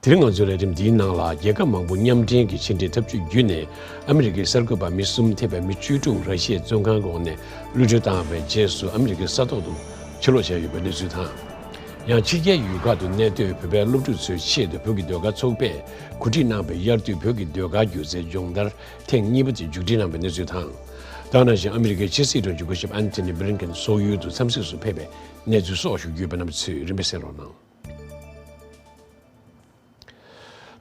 དེར་ང་ཚོས་ལས་རིམ་འདིའི་ནང་ལ་རྒྱལ་ཁབ་མང་པོ་མཉམ་འབྲེལ་གྱི་ཕྱི་འབྲེལ་ཐབས་ཇུས་བརྒྱུད་ནས་ཨ་མི་རི་ཀའི་གསར་འགོད་པ་མི་གསུམ་ཐེ་བའི་མི་བཅུ་དྲུག་ར་ཤི་ཡའི་བཙོན་ཁང་འོག་ནས་གློད་གྲོལ་བཏང་བའི་རྗེས་སུ་ཨ་མི་རི་ཀའི་ས་ཐོག་ཏུ་ཕྱིར་ལོག་བྱས་ཡོད་པའི་གནས་ཚུལ་དང། ཡང་ཕྱི་རྒྱལ་ཡུལ་ཁག་ཏུ་གནས་སྡོད་བོད་པའི་སློབ་ཕྲུག་ཚོའི་ཆེད་དུ་བོད་ཀྱི་ཟློས་གར་ཚོགས་པས་གོ་སྒྲིག་གནང་བའི་དབྱར་དུས་བོད་ཀྱི་ཟློས་གར་སྒྱུ་རྩལ་སྦྱོང་བརྡར་ཐེངས་གཉིས་པ་དེ་མཇུག་སྒྲིལ་གནང་བའི་གནས་ཚུལ་དང། སྟག་ནག་ཅིང་ཨ་མི་རི་ཀའི་ཕྱི་སྲིད་དྲུང་ཆེ་སྐུ་ཞབས Antony Blinken སོག་ཡུལ་དུ་འཚམས་གཟིགས་སུ་ཕེབས་པའི་གནས་ཚུལ་སོགས་ཞུ་རྒྱུ་ཡོད་པ་རྣམས་ཚུད་རིམ་པས་གསན་རོགས་གནང།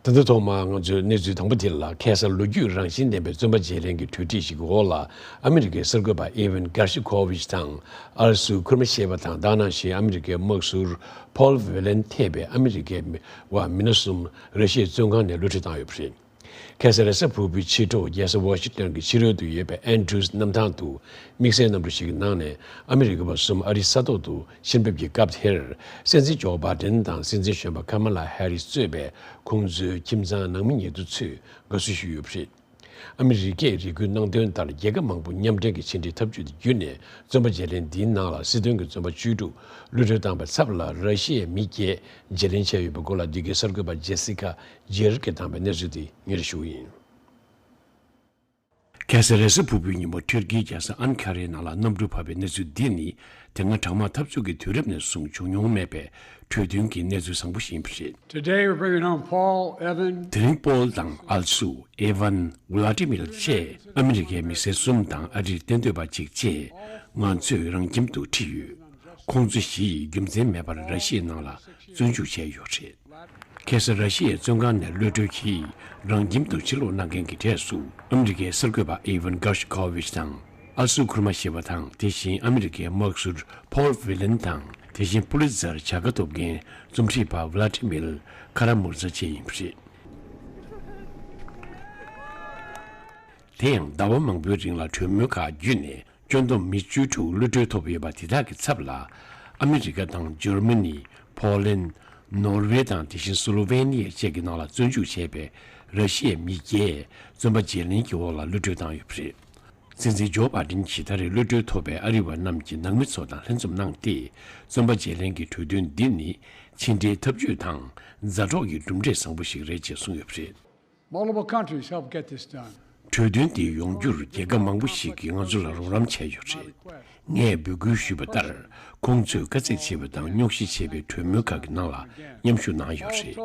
ད་ལྟ་ཐོག་མར་ང་ཚོས་གནས་ཚུལ་དང་པོ་དེ་ལ་ཁེ་སར་ལོ་རྒྱུས་རང་བཞིན་ལྡན་པའི་བཙོན་པ་བརྗེ་རེན་གྱི་གྲོས་འགྲིག་ཞིག་གི་འོག་ལ་ཨ་མི་རི་ཀའི་གསར་འགོད་པ་ཨི་ཝན་སྒར་ཤི་ཁོ་ཝིཆ་དང་ཨར་སུ་ཁུར་མ་ཤེས་པ་དང་སྡར་ནང་བཞིན་ཨ་མི་རི་ཀའི་དམག་ཟུར་ཕོལ་བྷེ་ལན་ཐེ་བས་ཨ་མི་རི་ཀའི་མི་བ་མི་སྣ་གསུམ་རེ་ཤེས་བཙོན་ཁང་ནས་གློད་གྲོལ་བཏང་ཡོད་པ་རེད། གྷེ་སཱ་རེ་ས་ཕུར་བུའི་ཕྱི་དྲོ་རྒྱལ་ས་ཝཱ་ཤིང་ཏོན་གྱི་ཕྱི་རོལ་དུ་ཡོད་པའི་ཨན་ཏྲུའུ་སི་གནམ་ཐང་དུ་དམིགས་བསལ་གནམ་གྲུ་ཞིག་གི་ནང་ནས་ཨ་མི་རི་ཀ་བ་གསུམ་ཨ་རིའི་ས་ཐོག་ཏུ་ཕྱིར་འབེབས་ཀྱི་སྐབས་དེར་སྲིད་འཛིན་ཇོ་བྷ་ཏན་དང་སྲིད་འཛིན་གཞོན་པ་ཁ་མ་ལཱ་ཧེ་རིས་གཙོས་པའི་ཁོང་ཚོའི་ཁྱིམ་ཚང་ནང་མི་ཉེ་དུ་ཚོས་དགའ་བསུ་ཞུས་ཡོད་པ་རེད། ཨ་མི་རི་ཀས་རེ་སྐུལ་གནང་དོན་ལྟར་རྒྱལ་ཁབ་མང་པོ་མཉམ་འབྲེལ་གྱི་ཕྱི་འབྲེལ་འཐབ་ཇུས་དེ་བརྒྱུད་ནས་བཙོན་པ་བརྗེ་ལེན་འདིའི་ནང་ལ་སྲིད་དོན་གྱི་བཙོན་པ་བཅུ་དྲུག་ཀློད་གྲོལ་བཏང་པའི་ཚབ་ལ་ར་ཤི་ཡའི་མི་བརྒྱད་བརྗེ་ལེན་བྱས་ཡོད་པའི་སྐོར་ལ་འདི་གའི་གསར་འགོད་པ་ཇེ་སི་ཀ་རྗེར་ཀྱི་དམ་པའི་གནས་ཚུལ་འདི་ངེད་ལ་ཞུ་བ་ཡིན། ཁལ་སེ་རེ་སི་ཕུར་བུའི་ཉིན་མོ་ཐུར་ཁེའི་རྒྱལ་ས་ཨན་ཁ་རའི་ནང་ལ་གནམ་གྲུ་བབས་པའི་གནས་ཚུལ་འདི་ནི་དེ་སྔ་དྲག་དམག་འཐབ་རྩོད་ཀྱི་དུས་རབས་ནས་བཟུང་བྱུང་མྱོང་མེད་པའི་གྲོས་མཐུན་གྱི་གནས་ཚུལ་བཟང་པོ་ཞིག་ཡིན་པ་རེད། Today we're bringing home Paul, Evan, དེ་རིང་པོལ་དང་ཨལ་སུ། Evan། ཝུ་ལཱ་ཏི་མི་ལ་བཅས་ཨ་མི་རི་ཀའི་མི་སེར་གསུམ་དང་ཨ་རིར་གཏན་སྡོད་པ་གཅིག་བཅས་ང་ཚོས་རང་ཁྱིམ་དུ་འཁྲིད་ཡོད། ཁོང་ཚོ་བཞི་ཡིས་རྒྱུ་མཚན་མེད་པར་ར་ཤི་ཡའི་ནང་ལ་བཙོན་འཇུག་བྱས་ཡོད་རེད། གྷེ་སར་ར་ཤི་ཡའི་བཙོན་ཁང་ནས་ཀློད་གྲོལ་གྱིས་རང་ཁྱིམ་དུ་ཕྱིར་ལོག་གནང་མཁན་གྱི་གྲས་སུ་ཨ་མི་རི་ཀའི་གསར་འགོད་པ་ཨི་ཝན་གྷར་ཤི་ཁོ་ཝིཆ་དང་ཨ་སུ་ཁུར་མ་ཞེས་པ་དང་དེ་བཞིན་ཨ་མི་རི་ཀའི་དམག་ཟུར་ཕོལ་བྷི་ལན་དང་དེ་བཞིན་པུ་ལི་ཙར་བྱ་དགའ་ཐོབ་མཁན་རྩོམ་སྒྲིག་པ་བྷི་ལཱ་ཏི་མིལ་ཁ་ར་མུར་ཛ་བཅས་ཡིན་པ་རེད། དེ་ཡང་ཟླ་བ་མང་པོའི་རིང་ལ་གྲོས་མོལ་ཁག་བརྒྱུད་ནས་སྐྱོ་འདོམས་མི་བཅུ་དྲུག་གློད་གྲོལ་ཐོབ་ཡོད་པ་དེ་དག་གི་ཚབ་ལ་ཨ་མི་རི་ཀ་དང་ཇར་མ་ནི། པོ་ལན། ནོར་ཝེ་དང་དེ་བཞིན་སུ་ལོ་ཝེ་ནི་ཡ་བཅས་ཀྱི་ནང་ལ་བཙོན་འཇུག་བྱས་པའི་ར་ཤི་ཡའི་མི་བརྒྱད་བཙོན་པ་བརྗེ་ལེན་གྱི་འོག་ལ་གློད་གྲོལ་བཏང་ཡོད་པ་རེད། ཚན་རྩལ་ཇོ་པཱ་ཀྲིན་གྱིས་ད་རེས་གློད་གྲོལ་ཐོབ་པའི་ཨ་རི་བ་རྣམས་ཀྱི་ནང་མི་ཚོ་དང་ལྷན་འཛོམས་གནང་སྟེ་བཙོན་པ་བརྗེ་ལེན་གྱི་གྲོས་མཐུན་འདི་ནི་ཕྱི་འབྲེལ་འཐབ་ཇུས་དང་མཛའ་གྲོགས་ཀྱི་གྲུབ་འབྲས་བཟང་པོ་ཞིག་རེད་ཅེས་གསུངས་ཡོད་པ་རེད། གྲོས་མཐུན་དེ་ཡོང་རྒྱུར་རྒྱལ་ཁབ་མང་པོ་ཞིག་གིས་ང་ཚོ་ལ་རོགས་རམ་བྱས་ཡོད་རེད། ངས་འབོད་སྐུལ་ཞུས་པ་ལྟར་ཁོང་ཚོས་དཀའ་ཚེགས་ཆེ་བའི་དང་རྙོག་གཞི་ཆེ་བའི་གྲོས་མོལ་ཁག་གི་ནང་ལ་མཉམ་ཞུགས་གནང་ཡོད་རེད།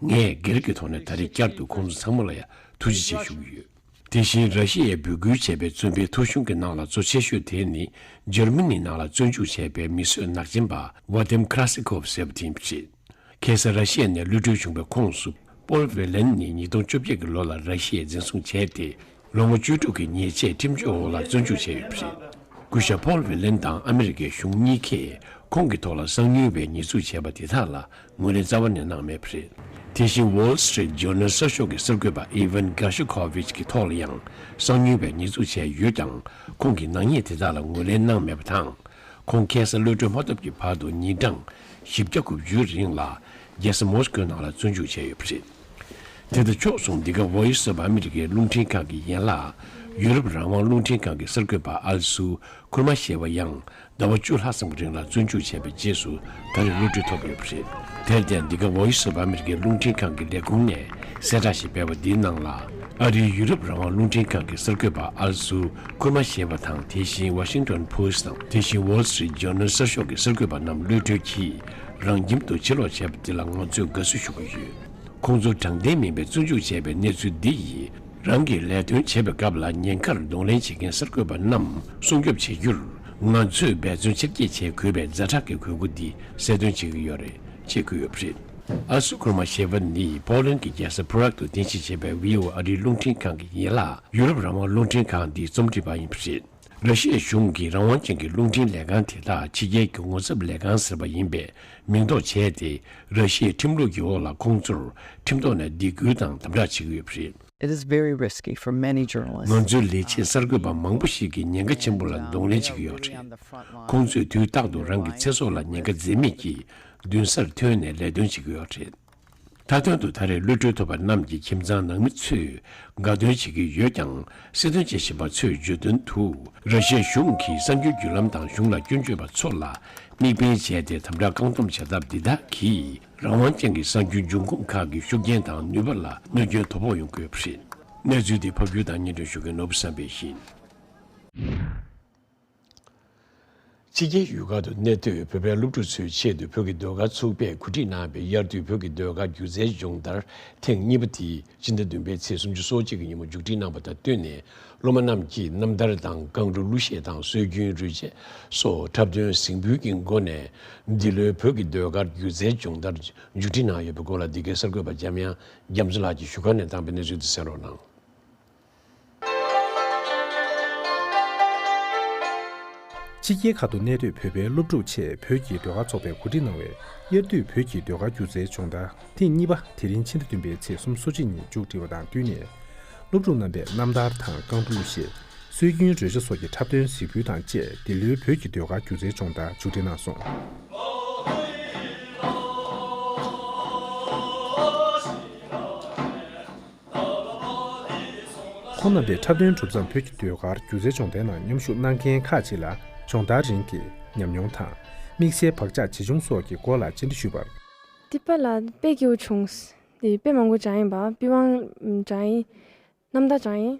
ངས་སྒེར་གྱི་ཐོག་ནས་ད་རེས་བསྐྱར་དུ་ཁོང་ཚོ་ཚང་མ་ལ་ཡང་ཐུགས་རྗེ་ཆེ་ཞུ་གི་ཡོད། དེ་བཞིན་ར་ཤི་ཡས་འབོད་སྐུལ་བྱས་པའི་བཙོན་པའི་ཐོ་གཞུང་གི་ནང་ལ་གཙོ་ཆེ་ཤོས་དེ་ནི་ཇར་མི་ནི་ནང་ལ་བཙོན་འཇུག་བྱས་པའི་མི་གསོད་ནག་ཅན་པ་བྷ་ལྡེམ་ཁ་ར་སི་ཁོབ་ཟེར་བ་དེ་རེད། ཁེ་སི་ར་ཤི་ཡ་ནས་གློད་གྲོལ་བྱུང་བའི་ཁོངས་སུ་པོལ་བྷེ་ལན་ནི་ཉིས་སྟོང་བཅོ་བརྒྱད་ཀྱི་ལོ་ལ་ར་ཤི་ཡས་འཛིན་བཟུང་བྱས་ཏེ་ལོ་ངོ་བཅུ་དྲུག་གི་ཉེས་ཆད་ཁྲིམས་གཅོད་འོག་ལ་བཙོན་འཇུག་བྱས་ཡོད་པ་རེད། སྐུ་ཞབས་པོལ་བྷེ་ལན་དང་ཨ་མི་རི་ཀའི་གཞུང་གཉིས་ཀས་ཁོང་གི་ཐོག་ལ་གསང་ཉུལ་བའི་ཉེས་འཛུགས་བྱས་པ་དེ་དག་ལ་ངོས་ལེན་རྩ་བ་ནས་གནང་མེད་པ་རེད། དེ་བཞིན Wall Street Journal གསར་ཤོག་གི་གསར་འགོད་པ Evan Gershkovich གི་ཐོག་ལ་ཡང་གསང་ཉུལ་བའི་ཉེས་འཛུགས་བྱས་ཡོད་ཀྱང་ཁོང་གིས་ནག་ཉེས་དེ་དག་ལ་ངོས་ལེན་གནང་མེད་པ་དང། ཁོང་ཁེ་སི་གློད་གྲོལ་མ་ཐོབ་ཀྱི་བར་དུ་ཉིན་གྲངས་བཞི་བརྒྱ་དགུ་བཅུའི་རིང་ལ་རྒྱལ་ས་མོ་སི་ཀོའི་ནང་ལ་བཙོན་འཇུག་བྱས་ཡོད་པ་རེད། དེ་དང་ཕྱོགས་མཚུངས་འདི་ག་བྷོའི་སོབ་ཨ་མི་རི་ཀའི་རླུང་འཕྲིན་ཁང་གི་ཡན་ལག་ཡུ་རོབ་རང་དབང་རླུང་འཕྲིན་ཁང་གི་གསར་འགོད་པ་ཨ་ལི་སུ་ཁུར་མ་ཞེས་པ་ཡང་ཟླ་བ་བཅུ་ལྷག་ཙམ་གྱི་རིང་ལ་བཙོན་འཇུག་བྱས་པའི་རྗེས་སུ་ད་རེས་གློད་གྲོལ་ཐོབ་ཡོད་པ་རེད། དེར་བརྟེན་འདི་ག་བྷོའི་སོབ་ཨ་མི་རི་ཀའི་རླུང་འཕྲིན་ཁང་གི་ལས་ཁུངས་ནས་གསལ་བསྒྲགས་ཤིག་སྤེལ་བ་འདིའི་ནང་ལ། ཨ་རིའི་ཡུ་རོབ་རང་དབང་རླུང་འཕྲིན་ཁང་གི་གསར་འགོད་པ་ཨལ་སུ་ཁུར་མ་ཞེས་པ་དང་དེ་བཞིན Washington Post དང་དེ་བཞིན Wall Street Journal གསར་ཤོག་གི་གསར་འགོད་པ་རྣམས་གློད་གྲོལ་གྱིས་རང་ཁྱིམ་དུ་ཕྱིར་ལོག་བྱས་པ་དེ་ལ་ང་ཚོས་དགའ་བསུ་ཞུ་གི་ཡོད། ཁོང་ཚོ་དྲང་བདེན་མིན་པའི་བཙོན་འཇུག་བྱས་པའི་གནས་ཚུལ་འདི་ཡིས་རང་གི་ལས་དོན་བྱེད་པའི་སྐབས་ལ་ཉེན་ཁར་གདོང་ལེན་བྱེད་མཁན་གསར་འགོད་པ་རྣམས་སྲུང་སྐྱོབ་བྱེད་རྒྱུར་ང་ཚོས་འབད་བརྩོན་ཆེར་བསྐྱེད་བྱེད་དགོས་པའི་རྫ་དྲག་གི་གོས་སྐུ་འདི་གསལ་སྟོན་བྱེད་ཀྱི་ཡོད་རེད་ཅེས་བཀོད་ཡོད་པ་རེད། ཨ་སུ་ཀུར་མ་ཞེས་པ་ནི་པོ་ལན་གྱི་རྒྱལ་ས་བྷུ་རག་ཏུ་རྟེན་གཞི་བྱས་པའི་བྷི་ཨོ་ཨ་རིའི་རླུང་འཕྲིན་ཁང་གི་ཡན་ལག་ཡུ་རོབ་རང་དབང་རླུང་འཕྲིན་ཁང་འདིའི་རྩོམ་སྒྲིག་པ་ཡིན་པ་རེད། ར་ཤི་ཡའི་གཞུང་གིས་རང་དབང་ཅན་གྱི་རླུང་འཕྲིན་ལས་ཁང་དེ་དག་ཕྱི་རྒྱལ་གྱི་ངོ་ཚབ་ལས་ཁང་ཟེར་བ་ཡིན་པའི་མིང་འདོགས་བྱས་ཏེ་ར་ཤི་ཡའི་ཁྲིམས་ལུགས་ཀྱི་འོག་ལ་ཁོང་ཚོར་ཁྲིམས་ཐོག་ནས་སྡིགས་སྐུལ་དང་དམ་དྲག་བྱེད་ཀྱི་ཡོད་པ་རེད། ང་ཚོའི་ལས་བྱེད་གསར་འགོད་པ་མང་པོ་ཞིག་གིས་ཉེན་ཁ་ཆེན་པོ་ལ་གདོང་ལེན་བྱེད་ཀྱི་ཡོད་པ་རེད། ཁོང་ཚོས་དུས་རྟག་ཏུ་རང་གི་ཚེ་སྲོག་ལ་ཉེན་ཁ་འཛེམས་མེད་ཀྱིས་མདུན་སར་ཐོན་ནས་ལས་དོན་བྱེད་ཀྱི་ཡོད་རེད། མཐའ་དོན་དུ་ད་རེས་གློད་གྲོལ་ཐོབ་པ་རྣམས་ཀྱི་ཁྱིམ་ཚང་ནང་མི་ཚོས་དགའ་སྟོན་བྱེད་ཀྱི་ཡོད་ཀྱང་སྲིད་དོན་བྱེད་བཞིན་པ་ཚོས་བརྗོད་དོན་དུ་ར་ཤའི་གཞུང་གིས་གསར་འགྱུར་བརྒྱུད་ལམ་དང་གཞུང་ལ་སྐྱོན་བརྗོད་པ་ཚོ་ལ་དམིགས་འབེན་བྱས་ཏེ་དམ་དྲག་བཀག་སྡོམ་བྱ་ཐབས་འདི་དག་གིས་རང་དབང་ཅན་གྱི་གསར་འགྱུར་འབྱུང་ཁུངས་ཁག་གི་ཤུགས་རྐྱེན་དང་ནུས་པ་ལ་གནོད་སྐྱོན་དོ་ཕོག་ཡོང་དགོས་པ་རེད། གནས་ཚུལ་འདི་ཕབ་སྒྱུར་དང་སྙན་སྒྲོན་ཞུ་མཁན་ནོར་བུ་བསམ་འཕེལ་ཡིན། ཕྱི་རྒྱལ་ཡུལ་ཁག་ཏུ་གནས་སྡོད་བོད་པའི་སློབ་ཕྲུག་ཚོའི་ཆེད་དུ་བོད་ཀྱི་ཟློས་གར་ཚོགས་པས་གོ་སྒྲིག་གནང་བའི་དབྱར་དུས་བོད་ཀྱི་ཟློས་གར་སྒྱུ་རྩལ་སྦྱོང་བརྡར་ཐེངས་གཉིས་པ་དེ་སྤྱི་ཟླ་བདུན་པའི་ཚེས་སུམ་ཅུ་སོ་གཅིག་གི་ཉིན་མོ་མཇུག་སྒྲིལ་གནང་བ་དང་བསྟུན་ནས་སློབ་མ་རྣམས་ཀྱིས་རྣམ་ཐར་དང་རྐང་གླུ་གླུ་གཞས་དང་སྲོལ་རྒྱུན་རུས་ཆས་སོགས་འཁྲབ་སྟོན་གཟིགས་འབུལ་གྱི་སྒོ་ནས་འདི་ལོའི་བོད་ཀྱི་ཟློས་གར་སྒྱུ་རྩལ་སྦྱོང་བརྡར་མཇུག་སྒྲིལ་གནང་ཡོད་པའི་སྐོར་ལ་འདི་གའི་གསར་འགོད་པ་འཇམ་དབྱངས་རྒྱ་མཚོ་ལགས་ཀྱིས་བཞུགས་སྒར་ནས་བཏང་པའི་གནས་ཚུལ་དེ་གསན་རོགས་གནང། ཕྱི་རྒྱལ་ཁག་ཏུ་གནས་སྡོད་བོད་པའི་སློབ་ཕྲུག་ཆེད་བོད་ཀྱི་ཟློས་གར་ཚོགས་པས་གོ་སྒྲིག་གནང་བའི་དབྱར་དུས་བོད་ཀྱི་ཟློས་གར་སྒྱུ་རྩལ་སྦྱོང་བརྡར་ཐེངས་གཉིས་པ་དེ་རིང་ཕྱི་ཟླ་བདུན་པའི་ཚེས་གསུམ་གསོལ་ཕྱི་ཉིན་མཇུག་སྒྲིལ་བ་དང་བསྟུན་ནས། སློབ་ཕྲུག་རྣམ་པས་རྣམ་ཐར་དང་རྐང་འགྲོ་གླུ་གཞས། སྲོལ་རྒྱུན་རོལ་ཆ་སོགས་ཀྱི་འཁྲབ་སྟོན་གཟིགས་འབུལ་དང་བཅས་འདི་ལོའི་བོད་ཀྱི་ཟློས་གར་སྒྱུ་རྩལ་སྦྱོང་བརྡར་མཇུག་སྒྲིལ་གནང་སོང། ཁོ་རྣམ་པས་འཁྲབ་སྟོན་གྲུབ་མཚམས་བོད་ཀྱི་ཟློས་གར་སྒྱུ་རྩལ་སྦྱོང་བརྡར་ནང་མཉམ་ཞུགས་གནང་མཁན་ཁག་ཅིག་ལ་སྦྱོང་བརྡར་རིང་གི་ཉམས་མྱོང་དང། དམིགས་བསལ་བག་ཆགས་ཇི་བྱུང་སོགས་ཀྱི་སྐོར་ལ་བཅར་འདྲི་ཞུས་པར། འདི་པ་ལ་དཔེ་སྐྱེ་བོ་བྱུང། དཔེ་མང་པོ་བྱ་ཡིན། པི་ཝང་བྱ་ཡིན། ནམ་ཟླ་བྱ་ཡིན།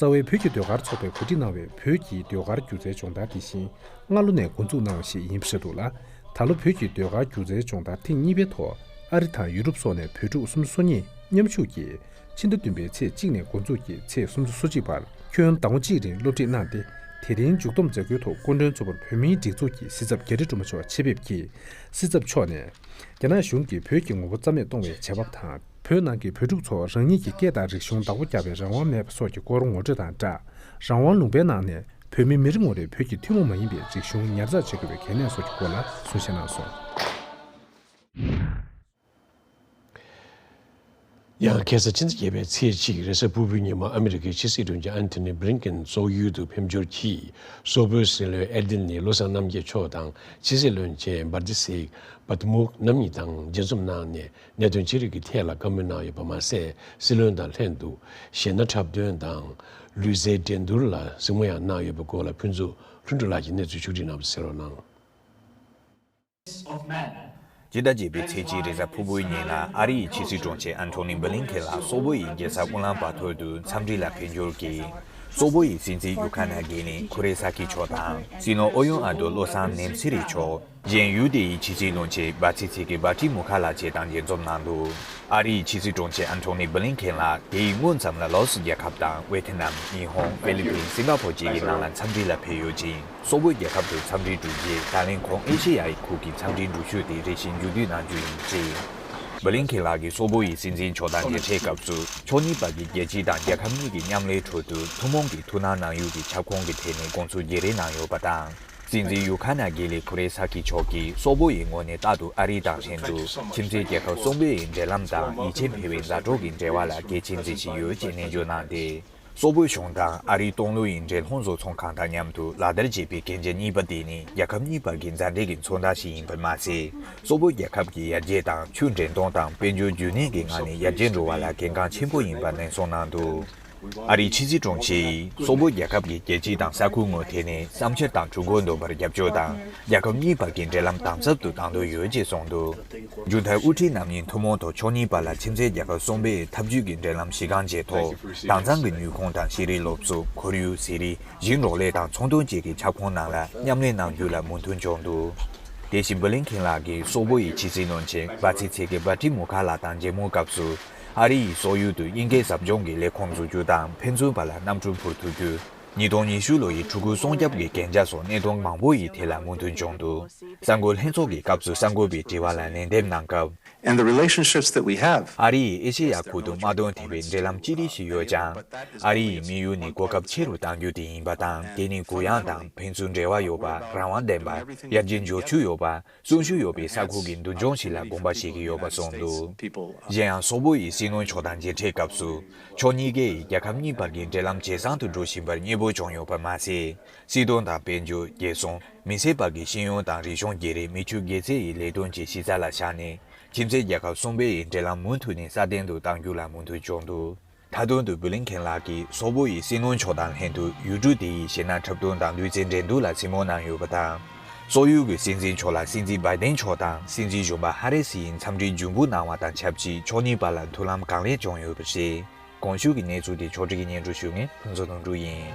རྩ་བའི་བོད་ཀྱི་ཟློས་གར་ཚོགས་པས་གོ་སྒྲིག་གནང་བའི་བོད་ཀྱི་ཟློས་གར་སྒྱུ་རྩལ་སྦྱོང་བརྡར་དེ་བཞིན་སྔ་ལོ་ནས་འགོ་འཛུགས་གནང་བ་ཞིག་ཡིན་ཞེས་འདུག་ལ། ད་ལོ་བོད་ཀྱི་ཟློས་གར་སྒྱུ་རྩལ་སྦྱོང་བརྡར་ཐེངས་གཉིས་པའི་ཐོག་ཨ་རི་དང་ཡུ་རོབ་སོགས་ནས་བོད་ཕྲུག་སུམ་ཅུ་སོ་གཉིས་མཉམ་ཞུགས་ཀྱིས་ཕྱི་ཟླ་བདུན་པའི་ཚེས་གཅིག་ནས་འགོ་འཛུགས་ཀྱིས་ཚེས་སུམ་ཅུ་སོ་གཅིག་བར་ཁྱོན་ཟླ་ངོ་གཅིག་རིང་སློབ་ཁྲིད་གནང་སྟེ་དེ་རིང་མཇུག་བསྡོམས་མཛད་སྒོའི་ཐོག་སྐུ་མགྲོན་གཙོ་བོར་བོད་མིའི་སྒྲིག་འཛུགས་ཀྱི་སྲིད་ཚབ་རྒྱ་རི་སྒྲོལ་མ་མཆོག་ཆེད་ཕེབས་ཀྱིས་སྲིད་ཚབ་མཆོག་ནས་རྒྱ་ནག་གཞུང་གིས་བོད་ཀྱི་ངོ་བོ་རྩ་མེད་གཏོང་བའི་བྱ་བ་དང། བོད་ནང་གི་བོད་ཕྲུག་ཚོ་རང་ཉིད་ཀྱི་སྐད་དང་རིག་གཞུང་བདག་པོ་རྒྱག་པའི་རང་དབང་མེད་པ་སོགས་ཀྱི་སྐོར་ངོ་སྤྲོད་དང་སྦྲགས། རང་དབང་ལུང་པའི་ནང་ནས་བོད་མི་མི་རེ་ངོ་རེས་བོད་ཀྱི་ཐུན་མོང་མ་ཡིན་པའི་རིག་གཞུང་ཉར་ཚགས་བྱེད་དགོས་པའི་གལ་གནད་སོགས་ཀྱི་སྐོར་ལ་གསུང་བཤད་གནང་སོང། ཡང་གེ་སར་ཕྱི་ཟླ་བརྒྱད་པའི་ཚེས་གཅིག་རེས་གཟའ་ཕུར་བུའི་ཉིན་མོ་ཨ་མི་རི་ཀའི་ཕྱི་སྲིད་དྲུང་ཆེ་ཨན་ཐི་ནི་བྷི་རིང་ཀིན་ཙོག་ཡུལ་དུ་ཕེབས་འབྱོར་གྱིས་སོག་པོའི་སྲིད་བློན་ཨེར་ཏི་ནི་བློ་བཟང་རྣམ་རྒྱལ་མཆོག་དང་ཕྱི་སྲིད་བློན་ཆེན་བྷར་ཏི་སིག Bhatmukt རྣམ་གཉིས་དང་མཇལ་འཛོམས་གནང་ནས་གནད་དོན་ཅི་རིགས་ཀྱི་ཐད་ལ་བཀའ་མོལ་གནང་ཡོད་པ་མ་ཟད་སྲིད་བློན་དང་ལྷན་དུ་གཞས་སྣ་འཁྲབ་སྟོན་དང། ལུས་རྩལ་འགྲན་བསྡུར་ལ་གཟིགས་མོ་ཡང་གནང་ཡོད་པའི་སྐོར་ལ་ཕུན་ཚོགས་ལྷུན་གྲུབ་ལགས་ཀྱིས་གནས་ཚུལ་ཕྱོགས་སྒྲིག་གནང་བ་གསལ་བོར་གནང། སྤྱི་ཟླ་བརྒྱད་པའི་ཚེས་གཅིག་རེས་གཟའ་ཕུར་བུའི་ཉིན་ལ་ཨ་རི་ཡི་ཕྱི་སྲིད་དྲུང་ཆེ Antony Blinken ལགས་སོག་པོ་ཡི་རྒྱལ་ས་ཨུ་ལཱན་པཱ་ཐོར་དུ་འཚམས་འདྲི་ལ་ཕེབས་འབྱོར་གྱིས། སོག་པོ་ཡི་སྲིད་འཛིན་ཡུ་ཁ་ན་གྷེ་ནི་ཁུ་རེ་ས་ཁི་མཆོག་དང་སྲིད་བློན་ཨོ་ཡོན་ཨ་དོ་བློ་བཟང་ནེམ་སི་རི་མཆོག། རྗེན་ཡུས་ཏེ་ཡི་ཕྱི་སྲིད་བློན་ཆེན་བྷ་ཚེ་ཚེ་ཀེ་བྷ་ཀྲི་མུ་ཁ་ལགས་བཅས་དང་མཇལ་འཛོམས་གནང་འདུག་ཨ་རིའི་ཕྱི་སྲིད་དྲུང་ཆེ་ཨན་ཐོ་ནི་བྷི་ལིན་ཁེན་ལགས་དེ་ཡི་སྔོན་ཙམ་ལ་ལཱོ་སི་རྒྱལ་ཁབ་དང་ཝེ་ཐེ་ནམ། ཉི་ཧོང། ཧྥི་ལི་ཕིན། སིང་ག་ཕོར་བཅས་ཀྱི་ནང་ལ་འཚམས་འདྲི་ལ་ཕེབས་ཡོད་ཅིང། སོག་པོའི་རྒྱལ་ཁབ་དུ་འཚམས་འདྲིར་འགྲོ་རྗེས་ད་ལན་ཁོང་ཨེ་ཤེ་ཡ་ཡི་ཁུག་གི་འཚམས་འདྲིའི་འགྲུལ་བཞུད་དེ་རེ་བཞིན་མཇུག་བསྡུས་གནང་རྒྱུ་ཡིན་ཅེས། བྷི་ལིན་ཁེན་ལགས་ཀྱིས་སོག་པོ་ཡི་སྲིད་འཛིན་མཆོག་དང་མཇལ་འཕྲད་སྐབས་སུ་ཕྱོགས་གཉིས་བར་གྱི་རྒྱལ་སྤྱི་དང་རྒྱལ་ཁབ་གཉིས་ཀྱི་མཉམ་ལས་ཁྲོད་དུ་ཐུན་མོང་གི་ཐུགས་སྣང་གནང་ཡུལ་གྱི་ཁྱབ་ཁོངས་ཀྱི་ཐད་ནས་དགོངས་ཚུལ་བརྗེ་རེས་གནང་ཡོད་པ་དང། སྲིད་འཛིན་ཡུ་ཁ་ན་གྷི་ལི་ཁུ་རེ་སཱ་ཁི་མཆོག་གིས་སོག་པོ་ཡི་ངོས་ནས་རྟག་ཏུ་ཨ་རི་དང་ལྷན་དུ་ཁྱིམ་མཚེས་རྒྱལ་ཁབ་གསུམ་པོའི་འབྲེལ་ལམ་དང་ཡིད་ཆེས་འཕེལ་བའི་མཛའ་གྲོགས་ཀྱི་འབྲེལ་བ་ལ་གལ་ཆེན་འཛིན་བཞིན་ཡོད་ཅེས་ནན་བརྗོད་གནང་སྟེ། སོག་པོའི་གཞུང་དང་ཨ་རིའི་ཏང་ལོ་ཡི་འབྲེལ་ལྷུང་བཟོ་ཚོང་ཁང་དང་མཉམ་དུ་ལག་བསྟར་བྱེད་པའི་གན་རྒྱ་གཉིས་པ་དེ་ནི་རྒྱལ་ཁབ་གཉིས་བར་གྱི་མཛའ་འབྲེལ་གྱི་མཚོན་རྟགས་ཤིག་ཡིན་པར་མ་ཟད། སོག་པོ་རྒྱལ་ཁབ་ཀྱི་ཡར་རྒྱས་དང་ཆུའི་འདྲེན་གཏོང་དང་དཔལ་འབྱོར་རྒྱུན་གནས་ཀྱི་ངང་ནས་ཡར་རྒྱས་འགྲོ་བ་ལ་གལ་འགངས་ཆེན་པོ་ཡིན་པ་ནན་གསུངས་གནང་འདུག། ཨ་རིའི་ཕྱི་སྲིད་དྲུང་ཆེས་སོག་པོ་རྒྱལ་ཁབ་ཀྱི་རྒྱལ་སྤྱི་དང་ས་ཁུལ་ངོས་ཐད་ནས་བསམ་འཆར་དང་གྲོས་འགོ་འདོན་པར་རྒྱབ་སྐྱོར་དང་རྒྱལ་ཁབ་གཉིས་བར་གྱི་འབྲེལ་ལམ་དམ་ཟབ་ཏུ་གཏང་འདོད་ཡོད་ཅེས་གསུངས་འདུག་མཇུག་མཐར་དབུ་ཁྲིད་རྣམ་གཉིས་ཐུན་མོང་ཐོག་ཕྱོགས་གཉིས་བར་ལ་ཕྱི་མཛེས་རྒྱལ་ཁབ་གསུམ་པའི་འཐབ་ཇུས་ཀྱི་འབྲེལ་ལམ་གཞི་རྐང་བཅས་ཐོག་དྭངས་གཙང་གི་ནུས་ཁུངས་དང་ཤེས་རིག་སློབ་གསོ་ཁོར་ཡུག་ཟས་རིགས་ཞིང་འབྲོག་ལས་དང་ཚོང་དོན་བཅས་ཀྱི་ཁྱབ་ཁོངས་ནང་ལ་མཉམ་ལས་གནང་རྒྱུ་ལ་མོས་མཐུན་བྱུང་འདུག་དེ་བཞིན་བྷི་ལིན་ཁེན་ལགས་ཀྱིས་སོག་པོ་ཡི་ཕྱི་སྲིད་བློན་ཆེན་བྷ་ཚི་ཚེ་ཀེ་བྷ་ཏི་མུ་ཁ་ལགས་དང་མཇལ་མོལ་སྐབས་སུ། ཨ་རི་ཡི་སོག་ཡུལ་དུ་དབྱིན་སྐད་ཟབ་སྦྱོང་གི་ལས་ཁུངས་འཛུགས་རྒྱུ་དང་ཕན་ཚུན་བར་ལ་གནམ་གྲུ་འཕུར་ཐུབ་རྒྱུ། ཉིས་སྟོང་ཉི་ཤུ་ལོ་ཡི་ཕྲུ་གུ་སྲོང་སྐྱབས་ཀྱི་གན་རྒྱ་སོགས་གནད་དོན་མང་པོ་ཡི་ཐད་ལ་མུ་མཐུད་འབྱུང་འདུག་གསར་འགོད་ལྷན་ཚོགས་ཀྱི་སྐབས་སུ་གསར་འགོད་པའི་དྲི་བ་ལ་ལན་འདེབས་གནང་སྐབས། and the relationships that we have ཨ་རི་ཡིས་ཨེ་ཤེ་ཡ་ཁུལ་དུ་དམག་དོན་ཐད་པའི་འབྲེལ་ལམ་ཅི་རིགས་ཤིག་ཡོད་ཀྱང། ཨ་རི་ཡི་དམིགས་ཡུལ་ནི་གོ་སྐབས་ཆེ་རུ་གཏང་རྒྱུ་དེ་ཡིན་པ་དང་དེ་ནི་གུ་ཡངས་དང་ཕན་ཚུན་འབྲེལ་བ་ཡོད་པ་རང་དབང་ལྡན་པ་དབྱར་གྱི་འབྱོར་ཕྱུག་ཡོད་པ་གསོན་ཤུགས་ཡོད་པའི་ས་ཁུལ་གྱི་མདུན་ལྗོངས་ཤིག་ལ་དགོངས་པ་བཞེས་ཀྱི་ཡོད་པ་གསུངས་འདུག་གཞན་ཡང་སོག་པོ་ཡི་སྲིད་བློན་མཆོག་དང་མཇལ་འཕྲད་སྐབས་སུ། ཕྱོགས་གཉིས་ཀས་ཡིས་རྒྱལ་ཁབ་གཉིས་བར་གྱི་འབྲེལ་ལམ་ཇེ་བཟང་དུ་འགྲོ་བཞིན་པར་མཉེས་པོ་བྱུང་ཡོད་པར་མ་ཟད། སྲིད་དོན་དང་དཔལ་འབྱོར་རྒྱལ་སྲུང་མི་སེར་བར་གྱི་ཤེས་ཡོན་དང་རིག་གཞུང་བརྒྱད་རེས་མི་ཕྱུགས་སྒེར་རྩེ་ཡི་ལས་དོན་གྱི་གཞི་རྩ་ལ་བཞག་ནས་ཁྱིམ་མཚེས་རྒྱལ་ཁབ་གསུམ་པའི་ཡི་འབྲེལ་ལམ་མུ་མཐུད་ནས་སྲ་བརྟན་དུ་གཏང་རྒྱུ་ལ་མུ་མཐུད་འཇོག་འདུག། མཐའ་དོན་དུ་བྷི་ལིན་ཁེན་ལགས་ཀྱིས་སོག་པོ་ཡི་སྲིད་བློན་མཆོག་དང་ལྷན་དུ་ཡུལ་གྲུ་དེ་ཡི་གཞི་ན་འཁྲབ་སྟོན་དང་ལུས་རྩལ་འགྲན་བསྡུར་ལ་ཚིག་སྨོན་གནང་ཡོད་པ་དང། སོག་ཡུལ་གྱི་སྲིད་འཛིན་མཆོག་ལ་སྲིད་འཛིན་སྦཱེ་ཏེན་མཆོག་དང་སྲིད་འཛིན་གཞོན་པ་ཧ་རེ་སི་ཡིས་འཚམས་འདྲིའི་འཇུན་འབུལ་གནང་བ་དང་ཆབས་ཅིག་ཕྱོགས་གཉིས་བར་ལ་མཐུན་ལམ་གང་ལེགས་བྱུང་ཡོད་པ་རེད། གོང་ཞུས་ཀྱི་གནས་ཚུལ་དེ་ཕྱོགས་བསྒྲིགས་སྙན་སྒྲོན་ཞུས་མཁན་ཕུན་ཚོགས་དོན་གྲུབ་ཡིན།